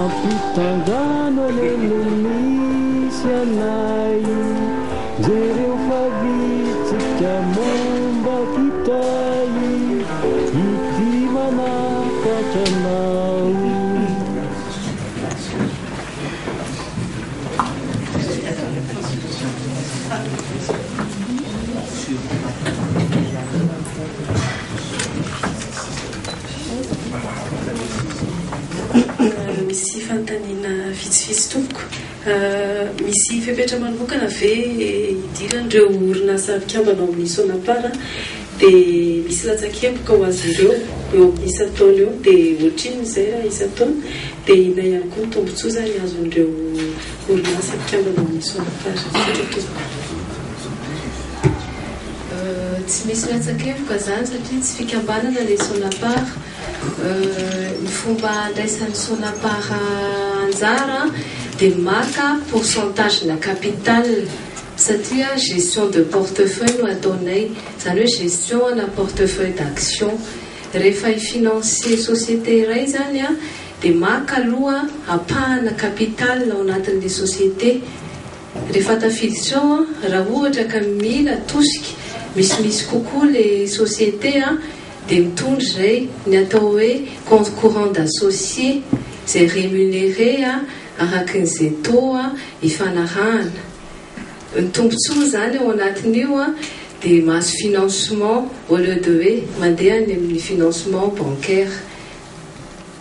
Ampitandrano any no misy anay Jereo fa vitsika momba kitay Ity manafatra anao Misy fanontaniana vitsivitsy tompoko. Misy fepetra manokana ve hidiran'ireo orinasa mpikambana ao amin'ny Sonapar dia misy latsakemboka ho azy ireo eo amin'ny isan-taona eo dia ohatrinona izay raha isan-taona dia inona ihany koa ny tombotsoa izany azon'ireo orinasa mpikambana ao amin'ny Sonapar? Tsy misy latsakevoka izany satria tsy fikambanana le Sonapar. Ny fomba andraisan'ny Sonapar anjara dia maka pourcentage na capital satria gestion de portefeuille no ataonay, izany hoe gestion ana portefeuille d'action. Rehefa hi-financer société iray izany dia maka aloha ampahana capital ao anatin'ilay société. Rehefa tafiditra ao an, raha ohatra ka mila tosika misimisy kokoa le société an, dia mitondra izay ny atao hoe compte courant d'associé izay rémunéré an, araka ny izay taux an, ifanarahana. Ny tombotsoa izany ao anatin'io an, dia mahazo financement au lieu de hoe mandeha any amin'ny financement bancaire.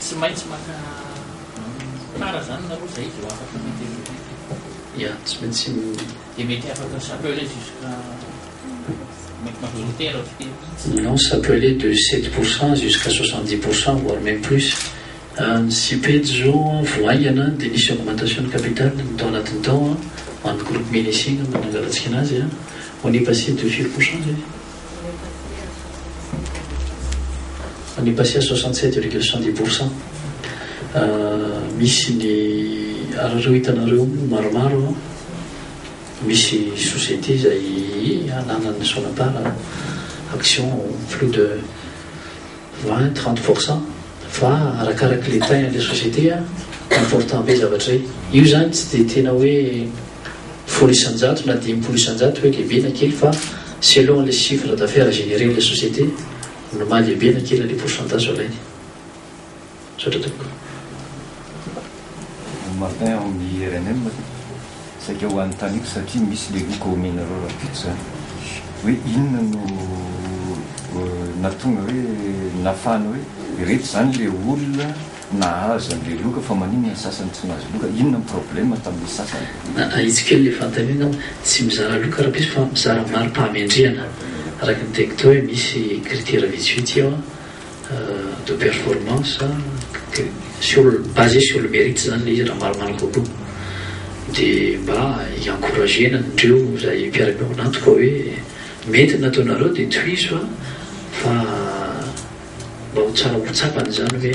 Tsy maintsy maka tara zany nareo zay vao afaka mi-developper. Ya, tsy maintsy mi. Dia mety afaka s'appeler jusqu'à mety majoritaire avy teo mihitsy. Non, s'appeler de sept pour cent jusqu'à soixante dix pour cent voire même plus. Ny CIPED zao vao haingana dia nisy augmentation de capital ny tao anatin'ny tao an, an'ny groupe Menissing no nangalantsika anazy an, on est passé de firy pour cent zay? Any Passia soixante sept virgule cent dix pour cent misy ny ary ireo hitanareo maromaro misy société izay ananan'ny Sonapar action plus de vingt trente pour cent fa arakaraky le taille an'ilay société important be zavatra izay, io izany tsy dia tena hoe. folo isan-jato na dimpolo isan-jato hoe lehibe na kely fa selon le chiffre d'affaires généré le société no maha lehibe na kely anle pourcentage alainy. Misaotra tompoko. Martin ao amin'ny rnm saika ho anontaniko satria misy le roa kaominina ireo rahampitso zany hoe inona no nahatonga hoe nafana hoe ireto zany le olona Nahazo an'ilay loka fa maninona ny sasany tsy nahazo loka? Inona ny problème tamin'ny sasany? Ahitsy kely le fanontaniana aho, tsy mizara loka rapiso fa mizara mari-pahamendrehana araky ny tekto hoe misy critère vitsivitsy ao de performance sur basé sur le mérite zany le izy raha maromaro kokoa de mba i-encourager-na an'ireo zay mpiara-miombon'antoka hoe mety ny nataonareo de tohizo fa Mba ho tsara ho tsapany izany hoe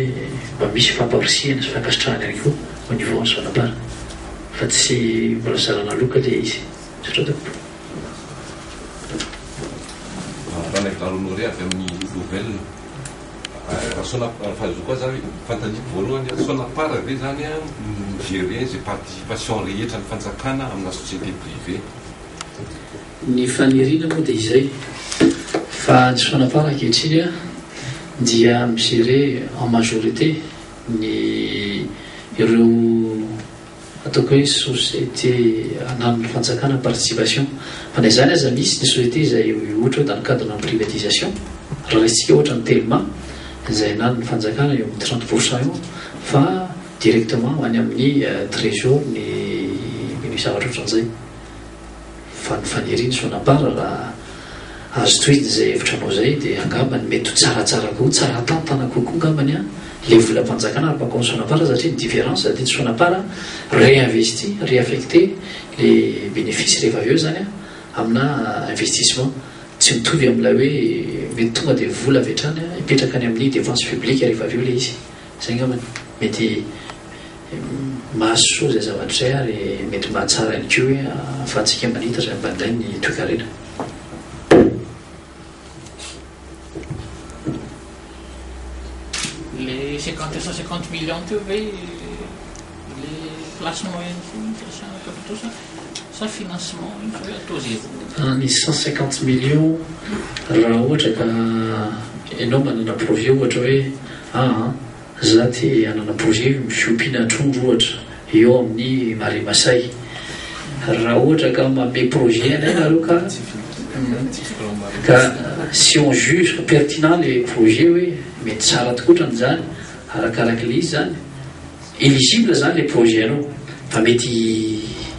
mba misy famparisihana sy fankasitrahana ihany koa au niveau an'i Sonapar fa tsy mbola zarana loka ilay izy. Misaotra tompoko. Ralay Garo Honoré avy amin'ny Nouvelles. Sonapar, fahaizako azy ary fanontaniako voalohany an, Sonapar ve zany an mi-gerer izay participation rehetra ny fanjakana amina société privée? Ny faniriana moa dia izay, fa ny Sonapar ankehitriny dia mi-gérer en majorité ny ireo ataoko hoe société ananan'ny fanjakana participation. Fa na izany aza misy ny société izay ohatra hoe dans le cadre de la privatisation, raha raisintsika ohatra ny Telma izay ananan'ny fanjakana eo amin'ny trente pour cent eo fa directement ho any amin'ny trésor ny zavatra ohatran'izay. Fa ny faniriany Sonabara raha azo tohiny izay hevitranao izay dia angambany mety ho tsaratsara koa, tsara tantana kokoa angambany an, ilay volam-panjakana ary bakao amin'ny Sonabara satria ny différence aty Sonabara réinvesti, réaffecté ilay bénéfice rehefa avy eo izany an, amina investissement, tsy mitovy amin'ilay hoe mety tonga dia vola avy hatrany hipetraka any amin'ny dépense publique rehefa avy eo ilay izy. Zay ngambany mety mahasoa zay zavatra zay ary mety mahatsara ihany koa hoe ahafahantsika manita zay ampanday ny toekarena. Le cinquante cent cinquante millions teo ve le place moyenne foana no fiasana tontosa? sa financement iny fa hoe atao ze voa. Ny cent cinquante millions raha ohatra ka enao manana projet ohatra hoe aa za te hanana projet fiompiana trondro ohatra eo amin'ny marais masay raha ohatra ka manome projet anay nareo ka ka si on juge pertinent le projet hoe mety tsara tokoa ohatran'izany arakarak'le izy zany Eligible zany le projet anao fa mety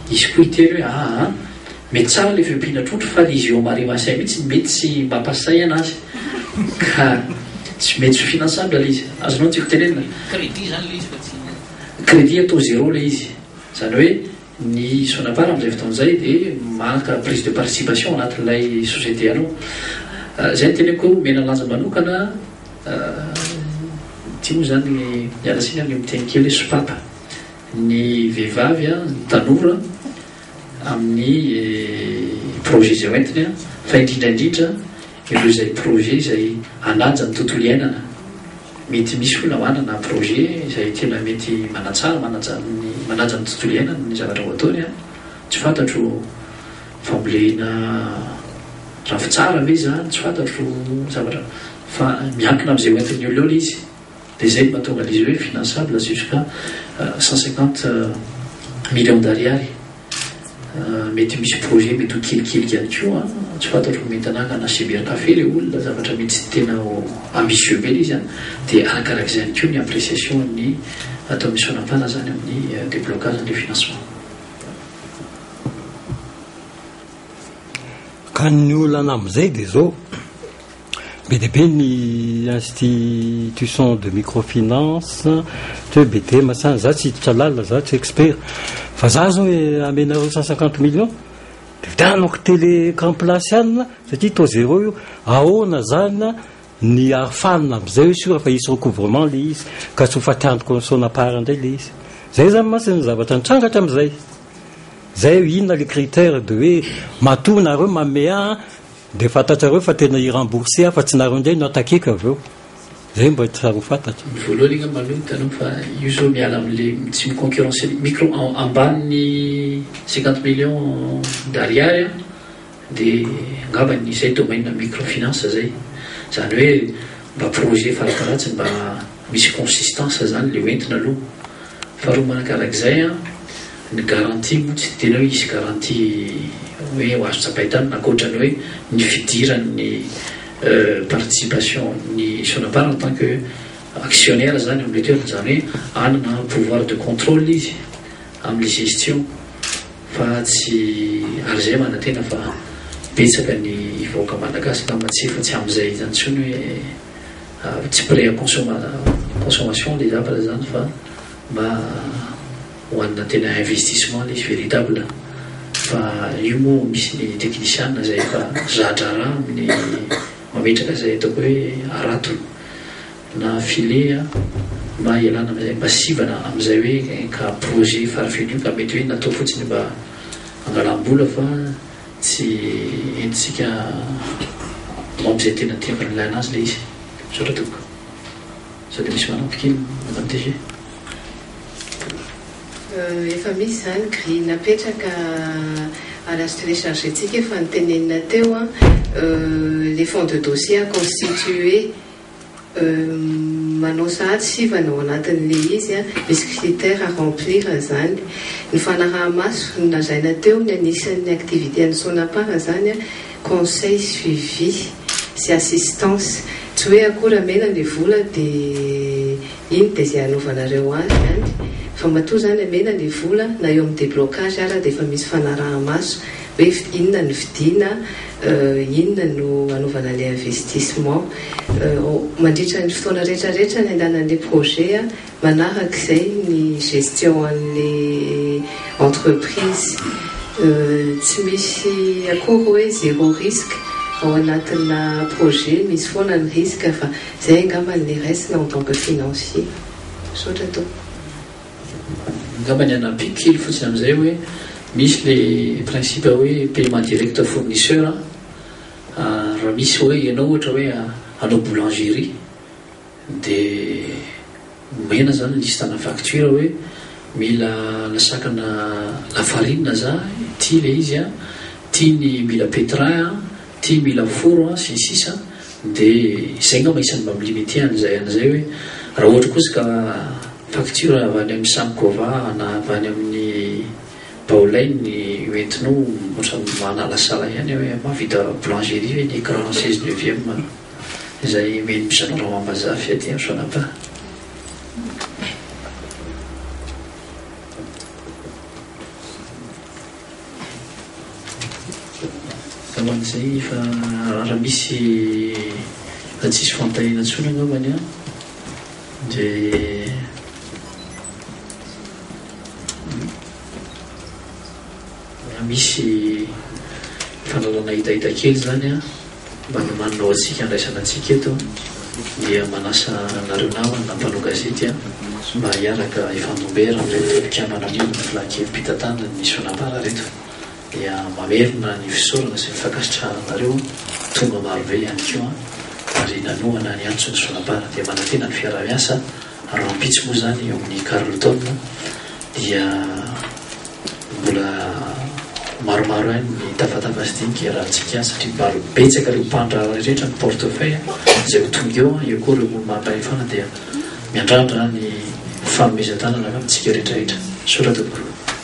hisy koa hiteny hoe aa mety tsara le fiompiana trondro fa le izy eo marie masay mihitsy mety tsy mba pasay anazy ka tsy mety tsy ho finançable le izy azonao ny tiako tenenina? Crédit zany le izy fa tsy. Crédit atao zero le izy zany hoe. Ny Sonapar amin'izay fotoana izay dia maka prise de participation anatin'ilay société anao. Izay no teneniko hoe omena lanja manokana, ity moa izany, miala tsiny amin'ny miteny kely hoe sopapa, ny vehivavy, ny tanora amin'ny projet izay hoentiny fa indrindra indrindra ireo izay projet izay hanaja ny tontolo iainana mety misy hoy namana na projet izay tena mety manatsara manaja ny manaja ny tontolo iainana ny zavatra ho ataony an! tsy fantatro fambolena ravintsara ve izany tsy fantatro zavatra fa miankina amin'izay hoentin'ny olona eo ilay izy Dia izay no mahatonga an'izy hoe finançable jusqu'à cent cinquante millions d'ariary. Mety misy projet mety ho kelikely ihany koa an! Tsy fantatro ny Mentananga na Cybercafé ilay olona, zavatra mety tsy tena ambitieux be ilay izy an! Dia arakarak'izay ihany koa ny appréciation an'ny ataon'i Sonapar izany amin'ny déblocage an'ilay financement. Ka ny olana amin'izay dia izao. Be dia be ny institutions de microfinance, ohatra hoe Bedema sa, za tsy hiditra lalina, za tsy expert, fa za zao hoe amenareo cent cinquante millions de vidianako tele grand place any satria taux zéro io, ahoana zany ny arofanina amzay hoe sur fa hisy recouvrement le izy ka tsy ho fatiantoka misaona part ndray le izy, zay zany mantsy ny zavatra nitranga hatramzay, zay inona le critère de hoe matoa nareo manome ahy Dia fantatrareo fa tena hi-rembourser aho fa tsy nareo indray no attaquer-ko avy eo. Izay mba tiareo fantatra. Ny voalohany angamba aloha ny tanoko fa io zao miala amin'ilay tsy mi-concurrencer ny micro en ambanin'ny cinquante millions d'ariary an, dia angamba ny izay domaine microfinance izay. Izany hoe mba projet fara-tahatsiny mba. Misy consistance zany le hoentina aloha. Faharoa manakarak'izay an, ny garantie moa tsy tena hoe hisy garantie hoe ho azo tsapain-tanana ankoatra ny hoe ny fidiran'ny participation ny Sonapar en tant que actionnaire zany amin'ilay toerana, izany hoe hanana pouvoir de contrôle izy amin'ny gestion fa tsy ary zay manantena fa betsaka ny vahoaka malagasy angamba tsy efa tsy amin'izay zany intsony hoe. ary tsy prêt à consommer consommation le zavatra zany fa mba hoanina tena investissement le izy véritable fa io moa misy ny technician zay efa za-draharaha amin'ny mametraka zay ataoko hoe harato na filet a mba hialana amizay mba sivana amizay hoe ka projet farafirinio ka mety hoe natao fotsiny mba hangalam-bola fa Tsy henontsika objet tena tiako an'ilay anazy ilay izy. Misaotra tompoko. Sao dia misy manampy kely Madame DG? Efa misy izany grille napetraka à la sterechage tsika efa notenenina teo an, le fond de dossier à constituer Manao sahady sivana ao anatin'ilay izy, misy critères à remplir izany. Ny fanaraha-maso, nolazaina teo ny anisan'ny activité-n'ny Sonapar izany, conseil, suivi sy assistance. Tsy hoe akory amena ilay vola dia iny dia izay hanaovanareo azy ihany fa matoa izany amena ilay vola na eo amin'ny déblocage ara dia efa misy fanaraha-maso. hoe inona no vidiana, inona no anaovana ilay investissement. Mandritra ny fotoana rehetra rehetra niandanan'ilay projet, manaraka izay ny gestion an'ilay entreprise. Tsy misy akory hoe zéro risque ao anatina projet, misy foana ny risque fa izay angamba no niresina en tant que financier. Misaotra tompoko. Angamba ny hanampiako kely fotsiny amin'izay hoe misy le principe hoe paiement direct fournisseur an, raha misy hoe ianao ohatra hoe hanao boulangerie dia omena zany liste-na facture hoe mila lasakana lafarinina za, ity le izy an, ity ny mila pétrin an. Ty mila foro an, sy ny sisa De izay ngamba isan'ny mba mi-limite an'izay an'izay hoe raha ohatra kosa ka facture avy any amin'ny Samkova na avy any amin'ny Baolay ny hoentinao ohatran'ny manalasala ihany aho hoe mahavita boulangerie ve ny écran seize neuvième izay omen'ny mpisandrana ao Ambazafy aty amin'ny Fanapa? Angamba izay fa raha misy raha tsy hisy fampitahiana intsony angambany an, dia raha misy fandrahona hitahita kely izany an. Manomanina ho antsika andraisana antsika eto dia manasa anareo namana mpanao gazety mba hiaraka hifandom-bera amin'ireto mpikambana amin'io Fla kely mpitantanana ny Sonapar ireto dia mamerina ny fisaorana sy ny fankasitrahana anareo tonga marobe ihany koa ary nanohana ny antson'ny Sonapar dia manantena ny fiaraha-miasa Rahampitso moa izany eo amin'ny Carlton dia mbola maromaro ihany ny tafatafa sy dinika iarahantsika satria mba betsaka ireo mpandraharaha rehetra ny portefeuille izay ho tonga eo, eo koa ireo olo-manampahefana dia miandrandra ny fanomezan-tanana amintsika rehetrarehetra. Soraty Gro.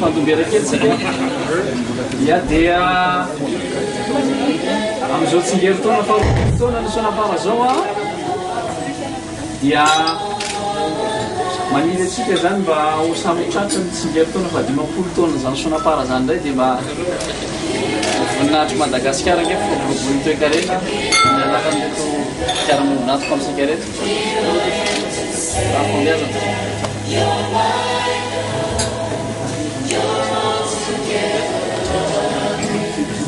Fantombera kely tsika. Ya dia amin'izao tsingerin-taona faharoa taona ny sonam-para zao a. dia maniry antsika izany mba ho samy tratry ny tsingerin-taona fahadimampolo taonan'izany Sonapar izany indray dia mba voninahitr'i Madagasikara ange fikolokoloan'ny toekarena amin'ny alalan'ireto fiarahamonina antoko amintsika ireto raha